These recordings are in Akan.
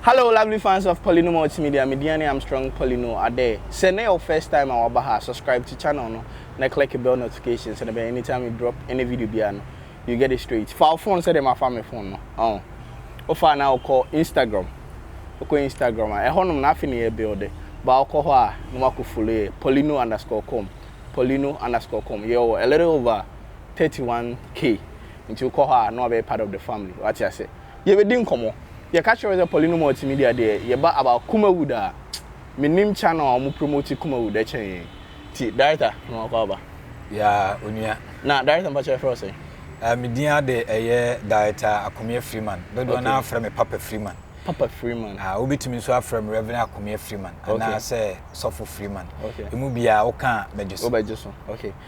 Hello lovely fans of Polyno Multimedia, me Diane Armstrong Polyno Ade. Say na your first time I waba ha, subscribe to channel no, na click the bell notification so that anytime we drop any video biano, you get it straight. File phone say them afa me phone no. Oh. O fa na call Instagram. Oko Instagram a ɛhɔ nom na afi ne yɛ build. Ba oko hɔ a na wako follow yɛ Polyno underscore com. Polyno underscore com. Yɛ wɔ a little over thirty one K nti wokɔ hɔ a na wabɛyɛ part of the family wate ase yɛbɛdi nkɔmmɔ yɛka kyerɛ wo sɛ Pauline Multimedia deɛ yɛba about Kumawood a menim channel a wɔn promote Kumawood ɛkyɛn yɛn ti director na wakɔ aba ya onua na director mpakyɛ frɛ wo sɛ Uh, me din ade ɛyɛ Director Akomie Freeman. Dodoɔ okay. no afrɛ me Papa Freeman. Papa Freeman. Ah, wobɛtumi nso afrɛ me Reverend Akomie Freeman. Okay. Anaasɛ Sɔfo Freeman. Okay. Emu biara woka a mɛgye so. Wobɛgye so. Okay.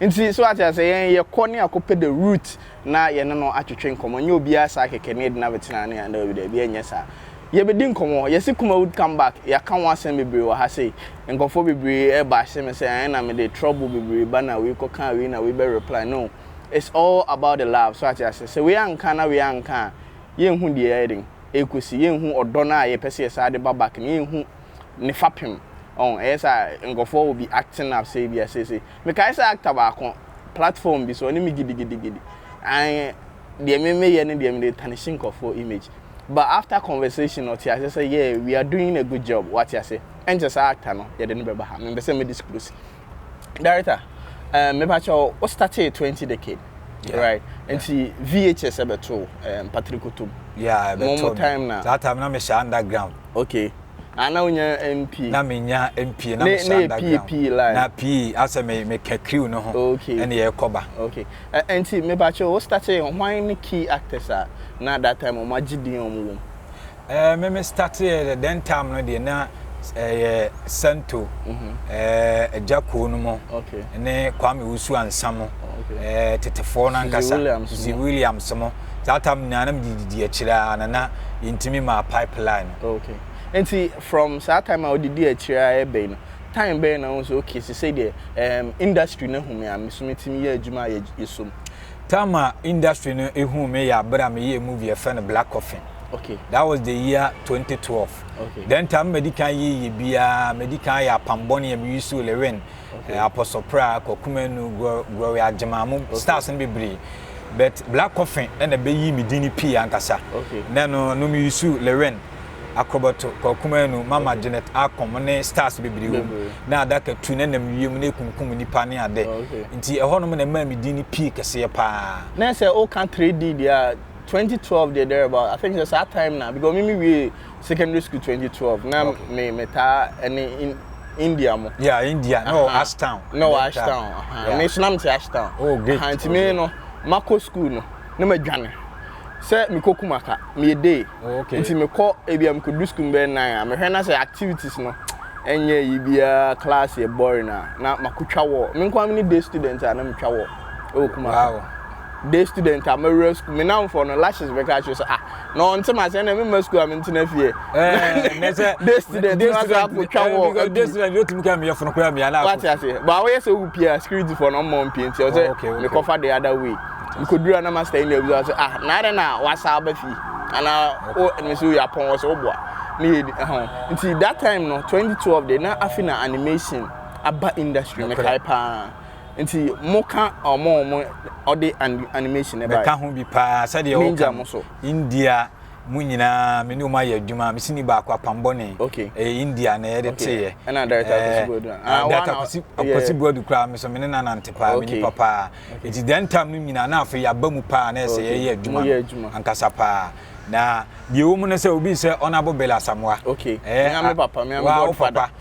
Nti so wate aseɛ yɛn yɛ kɔ ne akɔ pɛ the root na yɛ ne no atwetwe nkɔmɔ nyɛ obiaa saa kɛkɛ ne yɛ gyina bɛtena ne yɛn daabi daabi ɛnyɛ saa yɛ bɛ di nkɔmɔ yɛ se Kumawood come back yɛ aka ho asɛm bebree wɔ ha sei nkorɔfoɔ bebree ɛbashe me sɛ ɛɛ na me de trouble bebree ba na wei kɔ kaa wei na wei bɛ reply no it's all about the love so wate aseɛ sɛ wei anka na wei anka a yɛ nhu deɛ yɛ den ɛɛkɔsi yɛ nhu ɔdɔ no a yɛ pɛ sɛ yɛ saa de ba back no yɛ nhu ne fapem ɔho ɛyɛ saa nkorɔfoɔ will be acting up sɛ ebia seisei. Mekae sɛ actor baako, platform bi so, ɔne me gidigidigidi, and deɛ me meyɛ no deɛ mede tarnishi nkurɔfoɔ image, but after conversation ɔte aseɛ sɛ yeah, we are doing a good job, wate aseɛ, ɛnkyɛ saa actor no yɛde no bɛba ha, mempɛ sɛ me disclose. Director, um, mepa kyɛ wo, wo startee 20 decade, yeah, right? Yeah. Nti VHS ɛbɛto um, Patrikotom. Yeah, ɛbɛto. Mo time na. Saa time na mehyɛ underground. Okay. Ah, na wonya mpie. Na menya mpie na mehyɛ underground. Na pie pie line. Na pii asɛ me me ka crew no ho. Okay. Ɛna yɛkɔ ba. Okay. Ɛnti me ba kyɛ wo startee hwan ne key actors a na that time wɔn agye din wɔn wom. Ɛɛ me me startee the then time no deɛ na ɛyɛ Santo. Mhm. Ɛɛ ɛgya kuo no mo. Okay. Ne Kwame Wusu Ansa mo. Okay. Ɛɛ tetefoɔ no ankasa. Williams mo. Williams mo. saa tam nyinaa na mede didi akyire a na na yɛntumi maa pipe line no. Ok nti from saa time a wode di akyire ara ɛbɛyi no time bɛn na wohu sɛ ok sesei deɛ ɛɛm industry no ahu me a meso mɛtumi yɛ adwuma a yɛsɔ mu? Time a industry no huu me yɛ aberɛ a meyɛɛ movie a yɛfrɛ no Black Coffin. Ok. That was the year 2012. Ok. Then time a madi kan yɛ yɛ biara madi kan ayɛ Apam Bɔne a Meyi Sule Win, Ok. eh, Apostle Pra, Kwaku Manu, Glo- Gloria Agyemang mo stars no bebree. but Black Coffin na bɛyii me din no pii ankasa. Na ɛno no me yusu Lewin Akorobɔto, Kwaku Manu, Mama Janet Akom ne stars bebree wɔ mu. Na adaka tu na nam wiem na ɛkunkum nnipa ne ade. Nti ɛhɔ nom na ɛmaa me din no pii kɛseɛ paa. Na sɛ woka 3D deɛ a, 2012 deɛ there about, I think sɛ saa time no a, because me me wiee secondary school twenty twelve na me me taa ɛne in india mo. yeah india na wɔ ashtown. na wɔ ashtown me so na me te ashtown. oh great aha nti me no makɔ school no na ma dwane sɛ mekɔ kumaka meyɛ day oh, okay. nti mekɔ ebi a mekɔ du school bɛyɛ nnan a mehwɛ na sɛ activities no ɛnyɛ yi biara class yɛ boring a na makotwa wɔ me nkwa me ne day student a na metwa wɔ ɛwɔ kumaka. Wow. day student a mawura sukuu me namfoɔ no lashes bɛka akyerɛ sɛ ah na ɔnte ma sɛ ɛna memma sukuu a mentena fie day student no asa akɔtwa wɔ day student yɛtumi ka meyɛ fono koraa mia na wate ase baa woyɛ sɛ wohu pia security foɔ no ɔmmɔ mpie nti ɔsɛ oh, mekɔfa the other way mekɔdura na master yi na abisa sɛ ah na adɛn na wasa aba fie anaa wo me so yɛ apɔn wɔ sɛ woboa ne yɛ ɛho nti that time no 2012 de na afi na animation aba industry mekae paa Nti mo ka ɔmo ɔmo ɔde animation ɛbae. Mɛka ho bi paa sɛdeɛ woka no India mo nyinaa me ne ɔmo ayɛ adwuma me sini baako apam bɔne ɛyɛ India na yɛde teeɛ ɛna director Kwasi Buadu ah director Kwasi Buadu koraa me so me ne na nante paa me nipa paa nti deɛ ntam no nyinaa na afei yaba mu paa na ɛsɛ yɛyɛ adwuma no ankasa paa na deɛ ɛwɔ mu no sɛ obi sɛ honorable Bill Asamoah okay ɛɛ me papa me ame godfather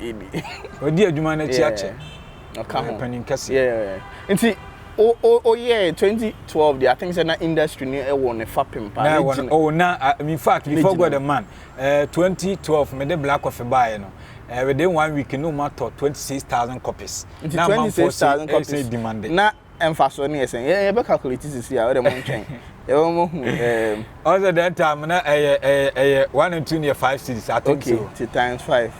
ebi. Ɔdi adwuma no akyi akyɛ. Ɔka ho. Panin kɛse. Yeah. Nti o o oyɛɛ twenty twelve deɛ I think sɛ na industry no ɛwɔ ne fapem paa. Na ɛwɔ no oh na ah, in fact before God the man ɛɛ eh, twenty twelve me de black coffee baayɛ no ɛɛ eh, within one week no ma tɔ twenty six thousand copies. Nti twenty six thousand copies na Mfaso no yɛ sɛn? Yɛ yɛbɛ calculate sisi a, ɔdɛ mo ntwɛn, yɛbɛ mo hu ɛɛm. Ɔn sɛ that time na ɛyɛ ɛyɛ ɛyɛ one and two no yɛ five cedis I think so. Okay, ti times five.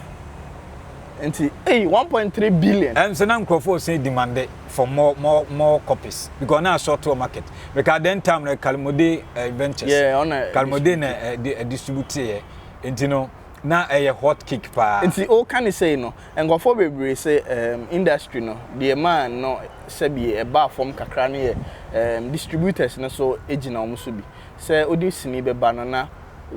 Nti ei one point three billion. Ɛm sɛ na nkorɔfoɔ ɔsɛn demande for more more more copies because na asɔɔto wɔ market. Meka then time no Kalmode eh, ventures. Yeah, ɔna Kalmode na ɛdi ɛdistribute yɛ. Nti no na ɛyɛ hot cake paa. Nti o ka ne sɛi no, Nkorɔfoɔ bebree se ehm industry no deɛ maa no sɛbi ɛbaa fam kakra no yɛ ehm distributors no so gyina wɔn so bi. Sɛ wode sini bɛba no na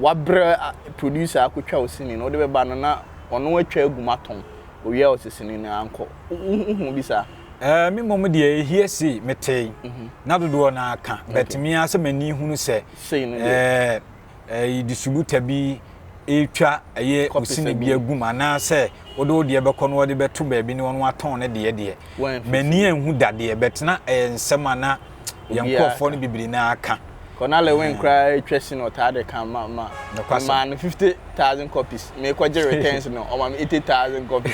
wabrɛ producer akɔtwa wo sini no, wode bɛba no na ɔno atwa agu mu atɔn, ɔwie a ɔse sini no ankɔ. Wohuu bi saa? Ehm me mmom deɛ hearsay metee na dodoɔ no ara ka but me ara sɛ m'ani hunu sɛ eeh. ɛyi distributor bi retwa ɛyɛ osini bi agum anaasɛ wode wo deɛ bɛkɔ no wɔde bɛto baabi ne wɔn atɔn ne deɛ deɛ m'ani anhu dadeɛ bɛtena ɛyɛ nsɛm a na yɛn nkurɔfoɔ no bibiri na aka kɔnale wen koraa atwa si no ɔtaa de ka ma ma ma no fifty thousand copies mekɔgye returns no ɔma me eighty thousand copies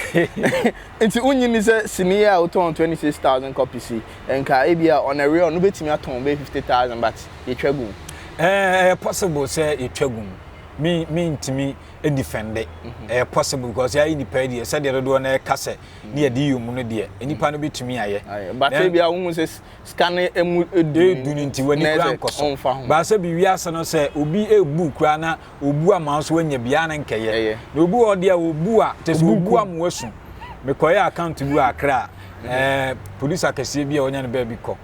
nti wonyi ni sɛ sini a wotɔn twenty six thousand copies yi nka ebi a ɔna real no betumi atɔn bɛyɛ fifty thousand but yɛtwa gu mu? Ɛɛ, ɛyɛ possible sɛ yɛtwa gu mu. Me, mentumi defende. Mhm. Ɛyɛ possible because yɛayɛ nipa yi deɛ sɛdeɛ dodoɔ no ɛka sɛ ne yɛde yɛ mu no deɛ mhm. nipa no bɛtumi ayɛ. Bata bi a wohu sɛ sika no emu edu. Edu ne nti w'ani kura nkɔso. Baasa bi wiase no sɛ obi ebu kura na obu ama nso anya biara na nkɛyɛ na obi wɔ deɛ obu a te sɛ obu ama wasu mekɔyɛ account bi wɔ akra a mhm. eh, producer akɛseɛ bi a ɔnya no baabi kɔ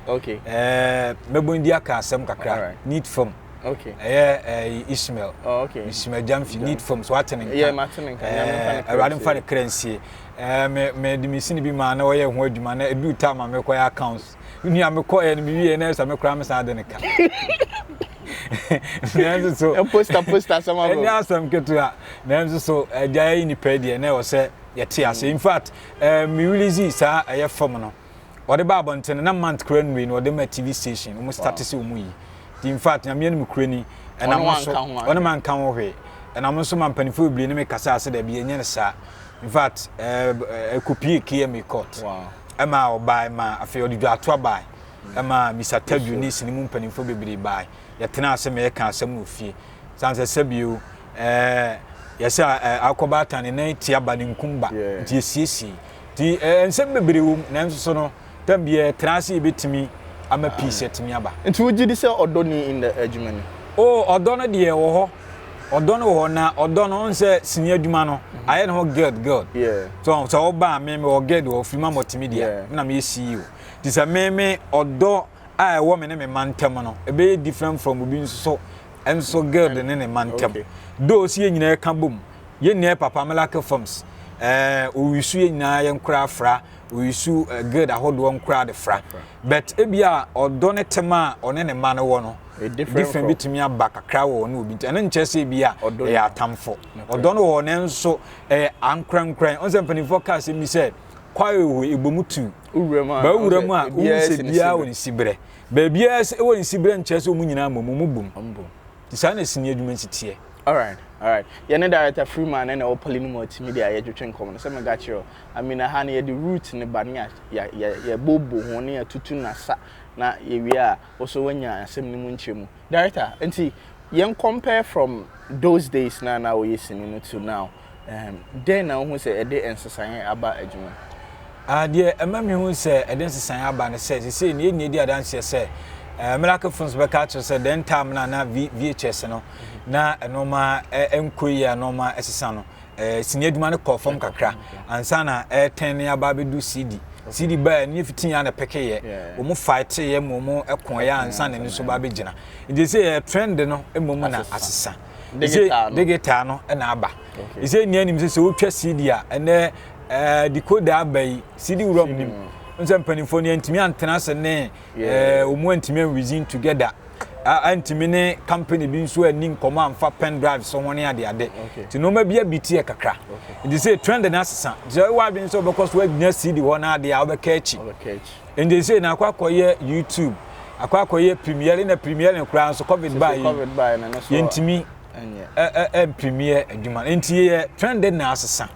eh, mɛbɔ ndi aka asɛm kakra need fam ɛyɛ eh, ismail oh, ismail jamfi need fam so wate ne nka awurade mfa ne kra nsie mede mesini bi maa na ɔyɛ ho adwuma na ɛduu tam a mekɔyɛ accounts nua mekɔɛ no mewie na ɛsɛ me koraa mesan de no ka nanso so posta posta asɛm abɔ ɛnyɛ asɛm ketewa nanso so agya yi nipa deɛ na ɛwɔ sɛ yɛte ase in fact eh, me release saa ɛyɛ fam no ɔde ba abɔntene na mant kora nnui na ɔde ma tv station wɔn start sɛ wɔn yi in fact nyameɛ no mu kura ni ɛnam nso ɔne ma nka ho hwee ɛnam nso ma mpanimfoɔ bebree ne me kasa ase dɛbi ɛnyɛ no saa in fact ɛkopie eh, eh, km court ɛmaa ɔbae ma afei ɔde dwatoa bae ɛmaa Misa Tadu ne sini mu mpanimfoɔ bebree bae yɛtenaa ase ma yɛka asɛm no ofie san sɛ sɛbio ɛɛ yɛsɛ ɛɛ akɔ baatan ne nan tia ba ne nkum ba nti yɛsiesie nti ɛɛ nsɛm bebree wɔ mu nanso so no tam bi yɛtena ase yɛbɛtumi ama peace atumi aba. Nti wogye di sɛ ɔdɔ ni in the adwuma ni? Oh ɔdɔ no deɛ ɛwɔ hɔ. ɔdɔ no wɔ hɔ na ɔdɔ no n sɛ sini adwuma no ayɛ ne ho guilt guilt so sɛ ɔba a me me wɔ guilt wɔ firi ma mɔte me deɛ na meyɛ CEO nti sɛ me me ɔdɔ a ɛwɔ me ne me ma ntɛm no ɛbɛyɛ different from obi nso so nso guilt ne ne ma ntɛm do si yɛ nyinaa ɛka bom yɛ nyinaa papa melake films ɛɛ owisu yɛ nyinaa yɛ nkora afra oyisu eh, guild ahodoɔ nkora de fra but ebi a ɔdɔ ne tema a ɔne ne mma no wɔ no different bi tumi aba kakra wɔ ɔne obi nti ɛno nkyɛ sɛ ebi a ɛyɛ atamfo ɔdɔ no wɔ nanso ɛyɛ ankorankoran ɔn sɛ mpanimfoɔ kaa sɛ bi sɛ kwae wɔ ebɔ mu tu bɛwura mu a wohu sɛ biara wɔ ne siberɛ baabiara sɛ ɛwɔ ne siberɛ nkyɛ sɛ wɔn nyinaa mmom mu bom nti saa na sini adwuma si teɛ alright alright yɛne director freeman ne na ɛwɔ poly no mu atumi de ayɛ dwetwe nkɔm no sɛ mega kyerɛ I mean aha no yɛde root no ba ne yɛbobo ho ne yɛtutu no asa na yɛwie a wo so woanya asɛm no mu nkyerɛ mu. Director, nti yɛn compare from those days no a na woyɛ sini no to now, um, dɛn na wohu sɛ ɛde nsesaeɛ aba adwuma mu? Ah, deɛ ɛma mehu sɛ ɛde nsesaeɛ aba ne sɛ sesei no yɛnyɛ di adanseɛ sɛ eh, Miracle Films bɛka akyerɛ sɛ dɛn time no a na VHS no na ɛnoɔma ɛnkɔ yi a nɔɔma ɛsesa no eh, sini adwuma no kɔɔ fam kakra ansa na ɛretɛn ne aba abɛdu CD CD baa ne fitin a na pɛkeyɛ wɔn faeteeɛ ma wɔn ɛkɔɔeɛ ansa na ɛno nso ba abɛgyina nti sɛ yɛ trend no mmom na asesa digital no na aba ɛsɛ nnia nim sɛ sɛ wotwa CD a ɛnɛ eh, decoder aba yi CD wura mu nim nsɛ mpanimfoɔ no yɛntumi antena ase ne wɔn eh, antumi anwizin together antumi ne company bi nso anni nkɔmmɔ amfa pen drive so ho ne adeade nti nneɛma bi abi teɛ kakra nti sɛ trend no asesa nti sɛ wowɔ adwene sɛ wobɛkɔ so anya cd hɔ no adeɛ a wobɛka akyi nti sɛ na akɔ akɔyɛ youtube akɔ akɔyɛ premiere na premiere no koraa nso covid baa yi yɛntumi ɛmpirimiɛ adwuma no nti yɛ trend na asesa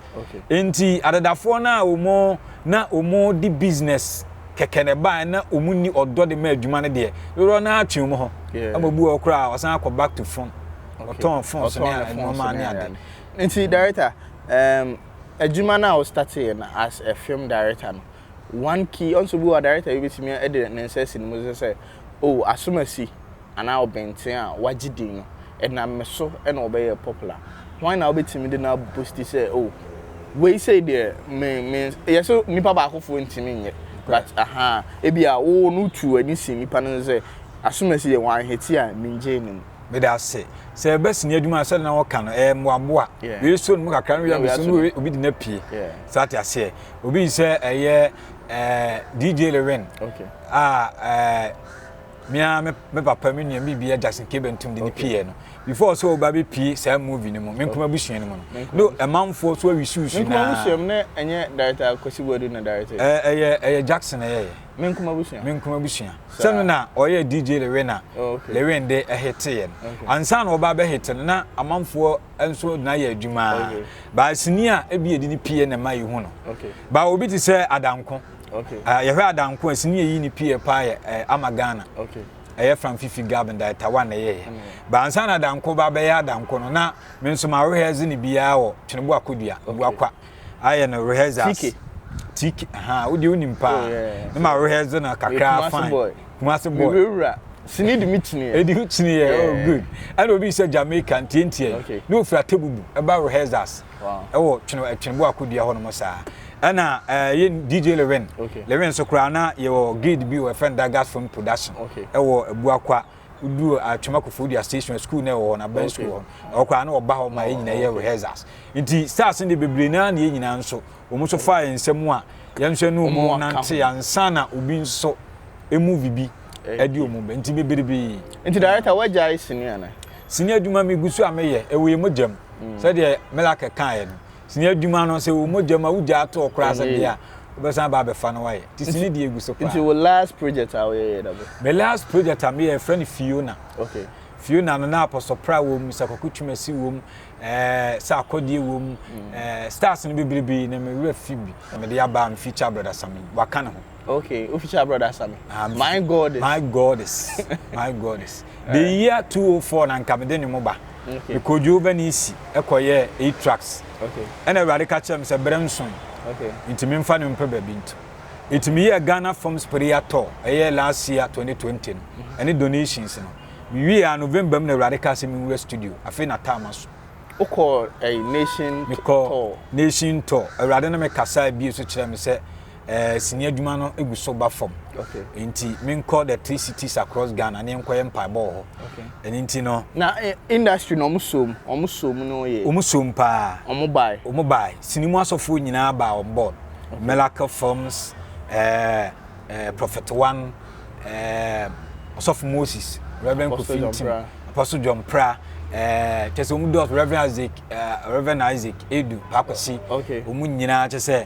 Enti adedafoɔ no a wɔn na wɔde business kɛkɛ na ɛbaeɛ na wɔn nni ɔdɔ de ma adwuma no deɛ, dodoɔ no ara twe wɔn hɔ. Ɛma obi wɔ hɔ koraa a, ɔsan akɔ back to phone. Ɔtɔn phone so ne nneɛma ne ade. Nti director, um, adwuma no a wɔstarteeɛ no as a film director no, one key, ɔnso bi wɔ hɔ a director bi bɛtumi de ne nsa asi ne mu sɛ sɛ, oh, asomasi. anaa ɔbɛnten a wagye din no, ɛnam me so na ɔbɛyɛɛ popular. Hwan na wobɛtumi de no abosti sɛ, oh, wei sei deɛ me, me, yɛ sɛ nnipa baakofoɔ ntumi nyɛ, but aha, ebi a wo no wotu w'ani si nnipa no so sɛ, Asumasi deɛ wanhete a mengyee no mu. Meda ase. Sɛ ɛbɛsi ne adwuma a sɛdeɛ na wɔka no, ɛɛ mmoaboa. Yeah. Wei so ne mu kakra no wei abɛsi no wei obi de no apue. Yeah. Sɛ ate aseɛ. Obi sɛ ɛyɛ ɛɛ DJ Lewin. Okay. A ɛɛ. Me ara me me papa me nua me bia Jackson K Bentum de ne okay. pie no before so ba be pie saa movie no mu me nkoma busua no mu no ɛmanfoɔ so awi susu na me nkoma busua mu ne ɛnyɛ director Kwesi Boadu na director eh ɛyɛ ɛyɛ Jackson ɛyɛ yɛ me nkoma busua me nkoma busua sɛno na ɔyɛ DJ Lewena oh, Lewen de ɛhete yɛ no ansa na ɔba bɛ hete no na amanfoɔ nso na yɛ adwuma baasini a ebi yɛ de ne pie na ma yi ho no ba obi te sɛ adanko Okay. Uh, yɛhwɛ adanko a sini yɛyi ne pie paa yɛ uh, ama ghana okay. ɛyɛ fam fifi gab da ɛtawa na ɛyɛyɛ mm. baansa na adanko ba bɛyɛ adanko no na me nso ma rehearse ne biara wɔ twenebo akodua okay. buakwa ayɛ no rehearsers tiki ha wode wonim paa oh, ne ma rehearse no kakra fine kumase boy mewurawura sini de me kyiniɛ ɛdi ho kyiniɛ oh good ɛna obi sɛ jamaica ntiantia yi ne ofira tebubu ɛba rehearsers ɛwɔ twenebo akodua hɔ nom saa ɛna ɛɛ yɛ dj lewin okay. lewin nso koraa na yɛwɔ grid bi wɔ ɛfɛ no dagas film production okay. ɛwɔ abuakwa wodu atwam akɔfo dua station school na ɛwɔ hɔ na bɛn school hɔ ɛwɔ koraa na ɔba hɔ ma yɛ nyinaa yɛ rehearsals nti stars no de bebree naa na yɛ nyinaa nso wɔn nso fa yɛn nsam a yɛn nso ɛnu wɔn nante ansa na obi nso emu vi bi ɛdi eh, wɔn bɛ nti bebree bi. nti director wagya ayɛ sini ana. sini adwuma mi gu so a meyɛ ɛwɔ yɛ mo gyam mm. sɛdeɛ melaka kan yɛ no Sini adwuma no, sɛ ɛwɔ mogya mu a, wogyaa toɔ koraa sɛ bia wobɛsan aba abɛfa na woayɛ. Nti sini deɛ ɛgu so paa. Nti wo last project a woyɛeɛ yɛ da bɛ? Me last project a meyɛɛ yɛfrɛ no Fiona. Okay. Fiona no na Apostle Pra wɔ mu, sɛ Kwaku Twumasi wɔ mu, eh, sɛ Akɔdeɛ wɔ mu, mm. eh, stars no bebrebe na me werɛ fi bi. Na mede aba me feature brother Sami, waka ne ho. Okay, official brother Sami. Amen. My God is. My God is. My God is. the eh. year 204 na nka mede ne mu ba. Okay. Mekodwo bɛ ne si ɛkɔyɛ eight tracks. Okay. Ɛna awurade ka kyerɛ me sɛ berɛ nson. Okay. Nti memfa no mpɛ baabi nto. Nti meyɛ Ghana Forms Prayer Tour ɛyɛ last year 2020 no. Mm-hmm. Ɛne donations no. Mewie a November mu na awurade ka sɛ mewura studio. Afei na taama so. Wokɔ ɛyi eh, nation tour. Mekɔ nation tour. Awurade no mekasa ebie so kyerɛ me sɛ eh, sini adwuma no gu so ba fam okay. nti menkɔ the three cities across ghana ne nkɔyɛ mpaebɔ wɔ hɔ okay. ɛno nti no na eh, industry no ɔmo som ɔmo som no yɛ ɔmo som paa ɔmo bae ɔmo bae sini mu asɔfoɔ nyinaa baa on board okay. miracle films eh, eh, prophet one eh, ɔsɔfo moses reverend kofi ntim apostle john pra eh, kyɛ sɛ ɔmo dɔs reverend isaac eh, reverend isaac edu paakɔsi ɔmo nyinaa kyɛ sɛ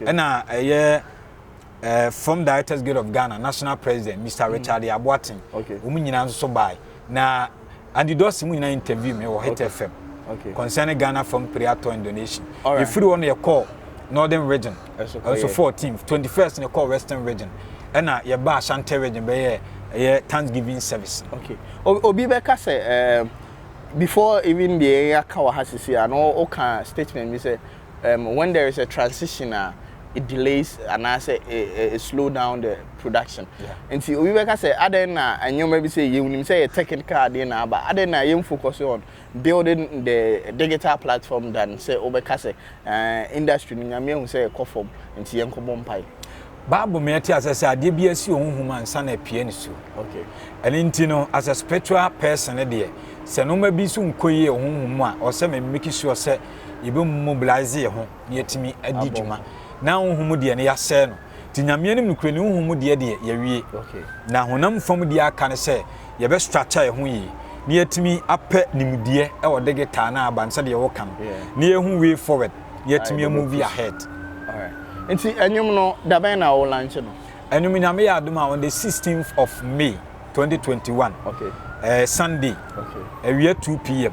Ɛna ɛyɛ ɛɛ from Directors Guild of Ghana National President Mister Richard mm. Aboaten. Okay. Wɔn nyinaa nso so baae. Na Andy Dawson mu nyinaa interview mi wɔ Hit FM. Okay. Concerning Ghana from Piriato and donation. Alright. Efiri wɔn yɛ kɔɔ Northern Region. Ɛso kɔ yɛ. Ɛso fourteen twenty first na kɔɔ Western Region. Ɛna yɛ ba Ashanti Region bɛyɛ ɛyɛ Thanksgiving service. Okay. Obi bɛka sɛ ɛɛ before even deɛ yɛaka wɔ ha sisi a na ɔka statement bi sɛ. um when there is a transition a it delays anaasɛ ɛ ɛ slow down the production nti obi bɛka sɛ adɛn na nneɛma bi sɛ yɛnim sɛ yɛ technical adeɛ na aba adɛn na yɛn focus on building the digital platform than sɛ wobɛka sɛ uh, industry no nyame ahu sɛ ɛkɔ fam nti yɛn kɔbɔ mpae. Bible me ɛte asɛ sɛ adeɛ bi asi ɔho hum ansa na apue ne so. Okay. Ɛne nti no as a spiritual person deɛ sɛ noma bi so nkɔ yie ɔho hum a ɔsɛ me make sure sɛ yɛbɛmu mobilise yɛ ho na yɛatumi adi dwuma na honhom mu deɛ no yɛasɛe no nti nyameɛ no nokorɛ ne honhom mu deɛ deɛ yɛwie na honam fam deɛ aka no sɛ yɛbɛ structure yɛ ho yie na yɛatumi apɛ nimdeɛ ɛwɔ digital no aba no sɛdeɛ woka no na yɛhu way forward na yɛatumi amuvi ahead nti ɛnwom no dabɛn na wo lanche no ɛnwom nyame yɛ adom a on the 16th of May 2021 okay. uh, Sunday okay. awia 2 pm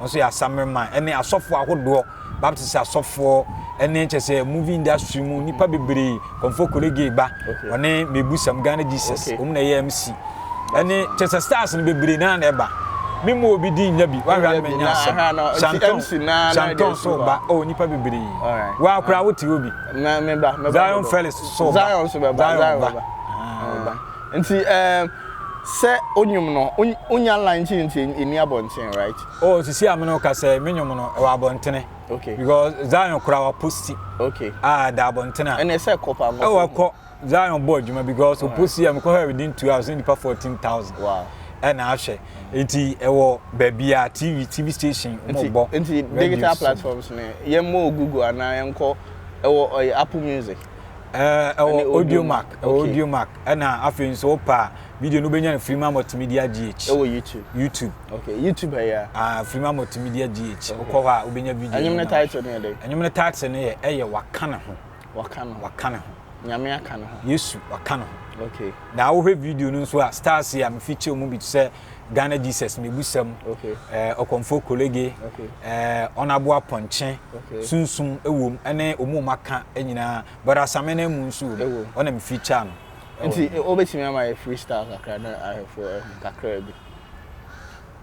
Wɔn nso yɛ asammerema ne asɔfoɔ ahodoɔ, Baptist asɔfoɔ ne kyɛ sɛ movie industry mu nipa bebree, Kɔmfo Korege ba, ɔne Mebusam Ghana Jesus, wɔn na ɛyɛ MC. Ɛne kyɛ sɛ stars no bebree naa na ɛba. Me mu obi din nya bi, wahwɛ anam nya asɛm. Shanton, Shanton so ba, oh nipa bebree. Wa akora wote obi. Zion Felix so ba, Zion ba. Nti ehm sɛ wo nwom no wo nya line nti nti enni abɔnten right? Oh sisi a me ne wo kasa yi me nwom no ɛwɔ abɔntene okay because Zion kora wa posti okay ah ɛda abɔntene a ɛnna ɛsɛ ɛkɔ paa nkɔfo ɛwɔ ɛkɔ Zion bɔ adwuma because o posti yɛ me kɔ hɛ within two hours ne nipa fourteen thousand wow ɛna ahwɛ nti ɛwɔ baabi a TV TV station mo bɔ nti digital platforms ne yɛn mo Google anaa yɛn kɔ ɛwɔ ɛyɛ Apple music. ɛwɔ audio mark ɛwɔ audio mark ɛna afei nso wopa video no wobɛnya no firi ma multimedia gh ɛwɔ youtube youtube okay youtube ɛyɛ ah firi ma multimedia gh wokɔ hɔ a wobɛnya video ɛnyɛm no title no yɛ dɛ ɛnyɛm no title no yɛ ɛyɛ waka ne ho waka ne ho waka ne ho nyame aka ne ho yesu waka ne ho okay na wohwɛ video no nso a stars a mefi kyɛw mu bi sɛ ghana jesus mebusam ɔkɔmfoɔ eh, kolege eh, ɔnabo apɔnkye sunsum ɛwom ɛne ɔmu ɔma ka nyinaa but asame no mu nso wom ɔna mefeature no nti wobɛtumi ama yɛ freestyle kakra na ahwɛfoɔ ahu eh, kakra bi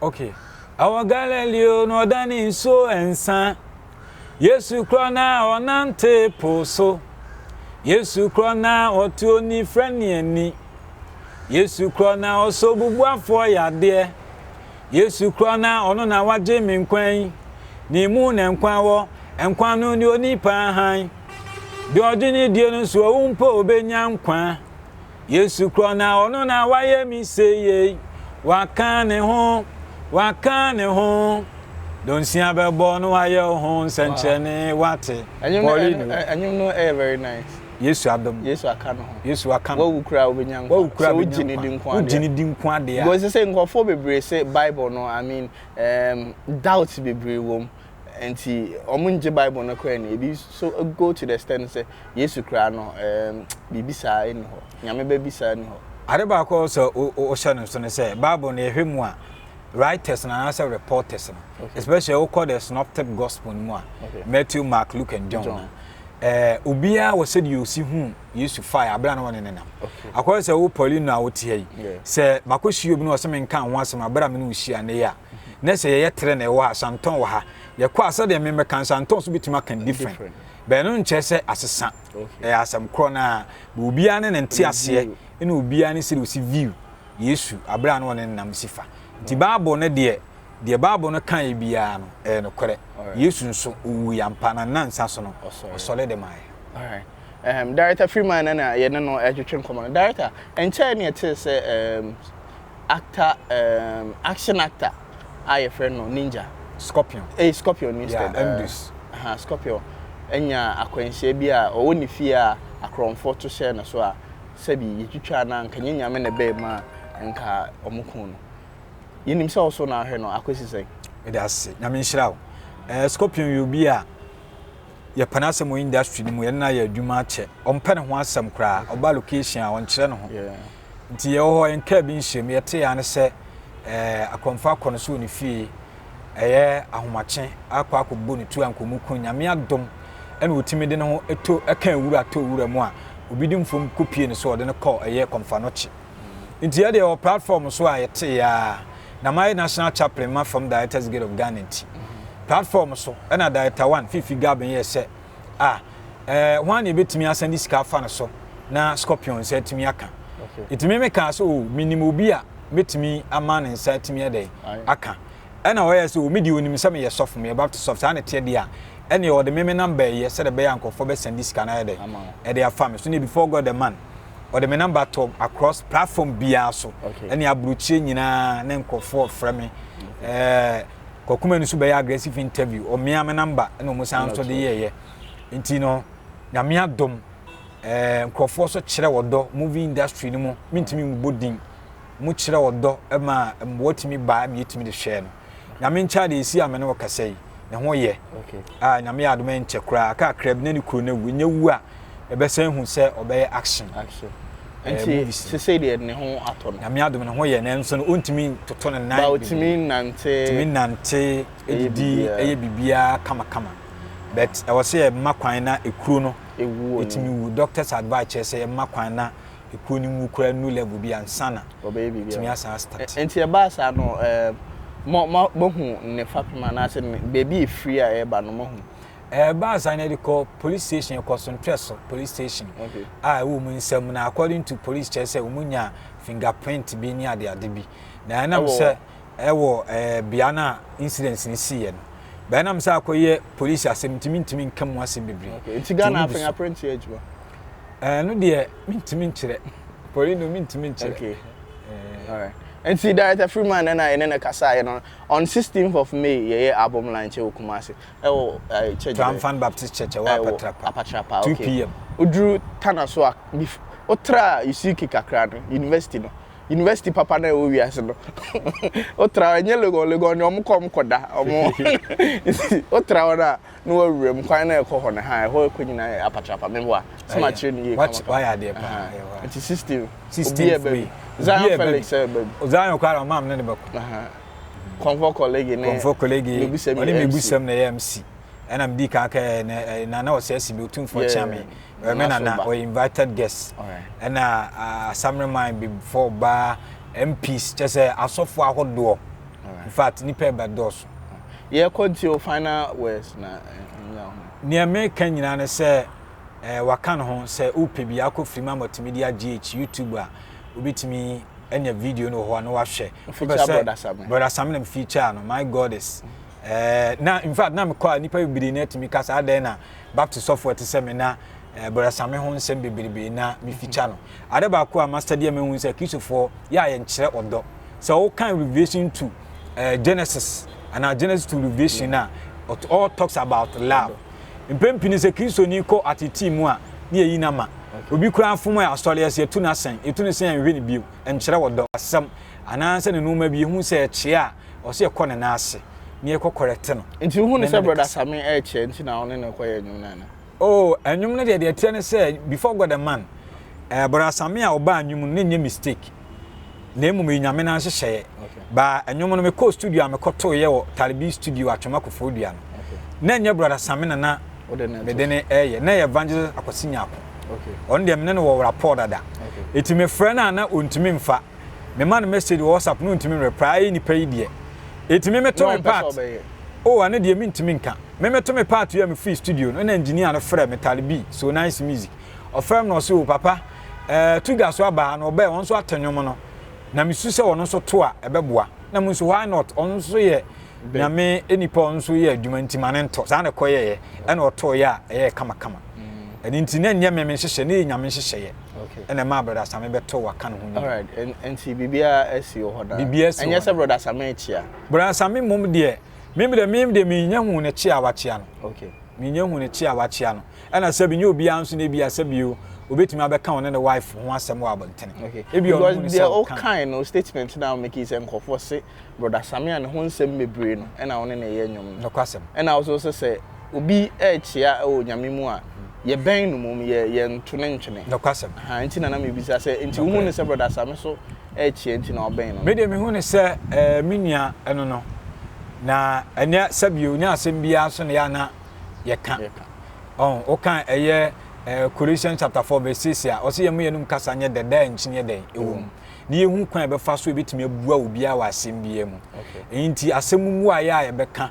okay awɔ galileo na ɔda ne nsuo nsa Yesu kura na ɔnante po so. Yesu kura na ɔte onifirani ani. Yesu kura na ɔsɔ obubuafoɔ yadeɛ. Yesu kura na ɔno na wagye me nkwa yi. Ne mu na nkwa wɔ, nkwa no ne onipa hann. Deɛ ɔgye ne die no nso owu mpo ɔbɛnya nkwa. Yesu korɔ na ɔno na wayɛ me seyei Waka ne ho, waka ne ho Donsia bɛbɔ no ayɛ wo ho nsɛnkyerɛne Wate, Paulino Ɛnwom no ɛyɛ very nice Yesu adom no, Yesu aka ne ho Yesu aka ne ho Wawu koraa wobɛnya nkwa Wawu koraa wobɛnya nkwa Sɛ wogye ne di nko adeɛ Wogye ne di nko adeɛ a Because sɛ nkorɔfoɔ bebree se bible no I mean um, doubts bebree wɔ mu. Enti wɔnngye Bible no koraa nni. Ebi nso go to the extent sɛ Yesu koraa no, ɛɛm, biribi saa nni hɔ. Nyame ba bi saa nni hɔ. Ade baako a ɛwɔ sɛ wohyɛ no nso ne sɛ, Bible no, yɛhwɛ mu a, writers no anaasɛ reporters no, especially wokɔ the Synoptic Gospel no mu a, Matthew, Mark, Luke and John no a, ɛɛ, obiara wɔ sɛdeɛ ɔsi hu Yesu faeɛ aberɛ a na wɔne no nam. Akɔyɛ sɛ wo Paulino a wote ha yi, sɛ makɔhyia obi na ɔse menka ho asɛm aberɛ a me ne wo hyia nnɛ yi a, na sɛ yɛyɛ trenee wɔ ha Santɔn wɔ ha yɛkɔ a sɛdeɛ mmemme kan Santɔn nso bɛtumi aka different bɛn no nkyerɛ sɛ asesa ɛyɛ asɛm korɔ no a bɛ obiara ne ne nte aseɛ ɛna obiara ne sɛdeɛ ɔsi view Yesu aberɛ a na ɔne nam si fa nti Bible no deɛ deɛ Bible no ka yɛ biara no ɛyɛ nokorɛ Yesu nso ɔwu yɛ ampa na nansa so no ɔsɔre de maa yɛ. Um, Director Freeman na yɛne no ɛtwetwe nkɔmmɔ no. Director, ɛnkyɛe ne ɛtee sɛ um, actor um, action actor a yɛfrɛ no Ninja. Scorpion. Ɛyɛ eh, Scorpion instead. Yeah, Mdus. Uh, uh, Scorpion. Ɛnya akwanhyia bi a ɔwɔ ne fie a akorɔmfoɔ to hyɛ no so a sɛbi yɛtwitwa no a nka nyɛ nyame na ɛbɛɛ mu a nka ɔmo ko no. Yɛnim sɛ ɔso na ahwɛ no akɔsi sɛn. Mede ase, nyame nhyira wo. Eh, Scorpion yɛ obi a yɛpɛ no asɛm wɔ industry no mu yɛne no ayɛ adwuma akyɛ ɔmpɛ ne ho asɛm koraa ɔba location a ɔnkyerɛ ne ho Nti yɛwɔ hɔ, yɛnkaa bi nhyiam, yɛtee aa ne sɛ Akɔmfo akɔ no so wɔ ne fie, ɛyɛ ahomakye, akɔ akɔbɔ ne tu ankomu ko, Nyame adom na ɔtumi de ne ho to, ɛka awura tɔ wura mu a, obi de mfom kɔ pie ne so a ɔde no kɔ ɛyɛ Kɔmfanokye. Nti yɛdeɛ wɔ platform so a yɛtee aa, na mayɛ National Chaplain ma Fam Directors Guild of Ghana nti, platform so na Director 1, Fifi Gabin yɛɛ sɛ, a, ɛɛ hwan na ebetumi asan de sika afa no so na scorpion nsa atumi aka? Etumi me kaa sɛ o, menim obi a metumi ama ne nsa atumi adɛn aka. Ɛna ɔyɛ sɛ o, me deɛ onim sɛ meyɛ sɔfo, meyɛ Baptist sɔfo, saa na ɛteɛ deɛ a, ɛneɛ ɔde me me number yɛ sɛdeɛ ɛbɛyɛ a nkurɔfoɔ bɛsan de sika no ayɛ dɛn ɛde afa me so. Ne before God the man, ɔde me number tɔ across platform biara so, ɛne aburokyire nyinaa ne nkurɔfoɔ frɛ me. Ɛɛ. Kwaku Manu so bɛyɛ aggressive interview, ɔmea me number na ɔmo san nso de yɛɛyɛ. Nti no, nyame adom, eh, nkurɔfoɔ so kyerɛ ɔdɔ, movie industry no mu, mentumi mmobɔ din, ɔmo kyerɛ ɔdɔ ma mmoa tumi ba ma yɛtumi de hwɛɛ no. Nyame nkyɛn de ɛsi a me ne wo kasa yi, ne ho yɛ. Okay. Ah, nyame yɛ adom ɛnkyɛ koraa, kakra bi na ne kuro no awu, ɛnyɛ wu a, ɛbɛsɛ ehu sɛ ɔbɛyɛ action. action. Eh, nti sese deɛ ne ho atɔ no. nyame adom ne ho yɛ nanso no ɔntumi toto ne nan. ba ɔtumi nante. tumi nante edidi ɛyɛ biribiara kamakama but ɛwɔ sɛ yɛ mma kwan na ekuro no. ewu wɔn etumi wu doctors advice kyerɛ sɛ yɛ mma kwan na ekuro no mu kura nu level bi ansana. ɔbɛyɛ biribiara etumi asan start. nti ɛbaa saa no ɛɛ. Eh, mo mo mo hu ne fapem anaasɛ ne beebi efiri a ɛreba no mo hu Ɛbaa saa na yɛde kɔ police station kɔ so ntwɛso police station a ɛwɔ wɔn nsam na according to police kyerɛ sɛ wɔn nya fingerprint bi ne adeade bi na ɛnam sɛ ɛwɔ ɛɛ bea no a incident no sii yɛ no bɛnam sɛ akɔyɛ police asɛm ntumi ntumi nka mu asɛm bebree. Nti Ghana fingerprint yɛ adwuma. Ɛno eh, deɛ mentumi nkyerɛ poli no mentumi nkyerɛ. Okay. Eh. All right. nti director freeman na yɛne no kasaeɛ no on 16th of may yɛyɛ album launch wɔ kumase ɛwɔ ɛɛ church bɛn. Triumphant Baptist Church ɛwɔ Apatrapa. Apatrapa okay. Two pm. Oduru Tana so a bif otra Usuki kakra no university no university papa na ɛwɔ wiase no otra ɛnyɛ Legon Legon ni ɔmo kɔ ɔmo kɔ da ɔmo otra hɔ no a na wɔawura mu kwan na ɛkɔ hɔ no ha ɛhɔ ɛkɔ nyinaa yɛ Apatrapa meboa sɛ ma kyerɛ no yie kama kama. Wayɛ adeɛ paa. Nti sixteen. Sixteen. Obi ɛbɛ bi. Zion Felix ɛbɛ bi. Zion kora ɔmaa mi ne ne bɛ kɔ. kɔnfɔ kɔlegi ne kɔnfɔ kɔlegi mebusɛm ɔne mebusɛm na ɛyɛ mc ɛna medi kan ka ɛ eh, nana ɔsɛ si bi otumfoɔ yeah. kyea me ɔyɛ me nana ɔyɛ invited guest ɛna ah, asamere man before ɔbaa mps kyɛ sɛ asɔfoɔ ahodoɔ in fact nipa ɛbɛ dɔɔso yɛkɔ nti o final words na ɛnya ho nea meka nyinaa ne sɛ Eh wakan ho sɛ wopɛ bi akɔ firi mu ama tumi de agye akyi YouTube a wobɛtumi anya video no wɔ hɔ a na wahwɛ wopɛ sɛ brother Same na mefeature no my God is eh na in fact na mekɔ a nipa bebree na atumi ka saa dɛn na Baptist sɔfo ɛte sɛ me na eh, brother Same ho nsɛm bebrebe na mefeature no ade baako a master deɛ mahu sɛ kristofoɔ yɛ a yɛnkyerɛ ɔdɔ sɛ wokan Revelation to eh, Genesis anaa Genesis to Revelation a all talks about love Mpɛn pii no sɛ Kristoni kɔ atetee mu a, na yɛyi no ama. Obi koraa fom a, asɔre ase yɛto no asɛn. Yɛtu no sɛn a, yɛnhwɛ no bio. Ɛnkyerɛ ɔdɔ, asɛm, anaasɛ ne nnoɔma bi. Yɛhu sɛ ɛkyea a, ɛwɔ sɛ yɛkɔ ne nan ase na yɛkɔ kɔrɛte no. Nti wohu no sɛ Brɔda Same ɛrekyea nti na wo ne no kɔyɛ nnwom no anaa? Oh, nnwom no deɛ, deɛ ɛteɛ ne sɛ, before God and man, eh, Brɔda Same a ɔbaa nnwom no, na ɛnyɛ mistake. na mmom ɛyɛ Nyame no ara nhyehyɛeɛ. Baa ɛnwom no mekɔɔ studio a mekɔtoeɛ wɔ Talibi studio Atwema Koforidua no. Na ɛnyɛ Brada Samina na mede ne ɛyɛ, na ɛyɛ Evangelist Akwasi Nyarko. Ɔno deɛ me ne no wɔ rapport dada. Enti mefrɛ no a na ɔntumi mfa. Mema no message wɔ WhatsApp na ɔntumi reply. Ayɛ yi nipa yi deɛ. Enti me meto me part. Oh ɛno deɛ mentumi nka. Me meto me part wie a mefiri studio no na engineer no frɛ me Talibi, So Nice Music. Ɔfrɛɛ me na ɔse o papa eh to dwa so aba a na ɔbɛɛ ɔno nso ato nnwom no na me su sɛ ɔno nso to a ɛbɛboa na mo nso why not ɔno nso yɛ nyame nipa ɔno nso yɛ adwuma nti ma ne nto saa na ɛkɔyɛɛ ɛna ɔtoo yɛ a ɛyɛɛ kama kama ɛno nti na ɛnyɛ me me nhyehyɛ ne yɛ nyame nhyehyɛeɛ ɛna ɛma brɔda same bɛtɔ waka ne ho nyina alright nti biribiara asi wɔ hɔ daa biribiara asi wɔ hɔ ɛnyɛ sɛ brɔda same kyia brɔda same mmom deɛ mimi deɛ mimi deɛ menya hu ne kyia wakyia no okay menya hu ne kyia wakyia no Ɛna sɛbi nyɛ obiara nso na ebia sɛbi o obetumi abɛka ɔne ne wife ho asɛm wɔ abɔntene. Okay, ebia ɔno hu no sɛ ɔka. Because deɛ ɔkae no statement no a ɔmake yi sɛ nkurɔfoɔ se Brɔda Samia ne ho nsɛm bebree no ɛna ɔne no yɛ nnwom no. Nokwasɛm. Ɛna also sɛ sɛ obi rekyea wɔ Onyame mu a yɛbɛn no mmom yɛ yɛnto no ntwene. Nokwasɛm. Ahaa nti na na mebisa sɛ nti Nokorɛ. wohu no sɛ Brɔda Same so rekyea nti na ɔbɛn no no. Me deɛ mehu no sɛ ɛɛ me nua ɛno no na ɛnɛ sɛbi o nyɛ asɛm biara so na yɛ a na yɛka. Ɔho, woka ɛyɛ eh, Colossians chapter 4 verse 6 a, ɔsɛ yɛn mu yɛnum kasa nyɛ dɛ, daa nkyi nyɛ dɛn ɛwɔ mu. Ne yɛhu kwan a yɛbɛfa so ɛbɛtumi abua obiara wɔ asɛm biara mu. Ɛyi nti asɛm mu mmuaeɛ a yɛbɛka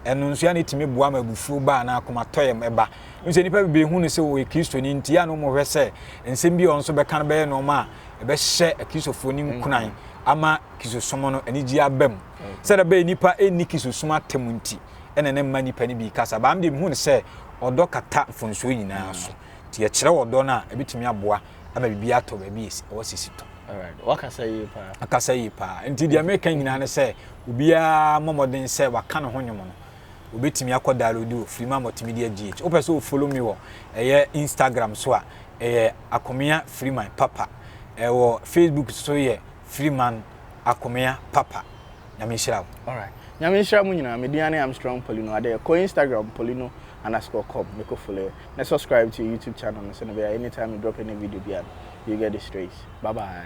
ɛno nso yɛ na ɛtumi boa ma abufuo ba anaa akomatɔyam ɛba. Ɛmu sɛ nnipa bebree hu no sɛ ɔyɛ Kristoni nti yɛ a na wɔhwɛ sɛ nsɛm bi a ɔno nso bɛka no bɛyɛ nneɛma a ɛbɛhyɛ Akristofoɔ nim nkuran ama Kristosom no anigyeɛ aba mu. Sɛdeɛ ɛbɛyɛ nnipa ɛnni Kristosom atam nti. ɛna na mma nnipa no bi rekasa. Baa me deɛ mehu no sɛ ɔdɔ kata mfomsoɔ nyinaa so. Nti yɛkyerɛ ɔdɔ no a, ɛbɛtumi aboa ama biribi atɔ baabi a ɛwɔ sɛ si tɔ. Wakasa yie paa. Akasa yie paa. Nti deɛ meka nyinaa ne sɛ obiara mmɔ mmɔden sɛ waka ne ho nwom no. Obɛtumi akɔ download wɔ Freema Multimedia GH. Wopɛ sɛ ofolo me wɔ ɛyɛ Instagram so a, ɛyɛ Akomea Freeman Papa. Ɛwɔ Facebook so yɛ Freeman Akomea Papa. Nyame nhyira wo. Alright. Nyame nhyira mo nyinaa. Me din ane Armstrong Polino Adeyɛ. Kɔ Instagram Polino underscore com ne kɔ follow yɛ. Na subscribe to yɛ YouTube channel no sɛnɛ ɛbɛyɛ a anytime me drop any video biara no you get it straight. Bye bye.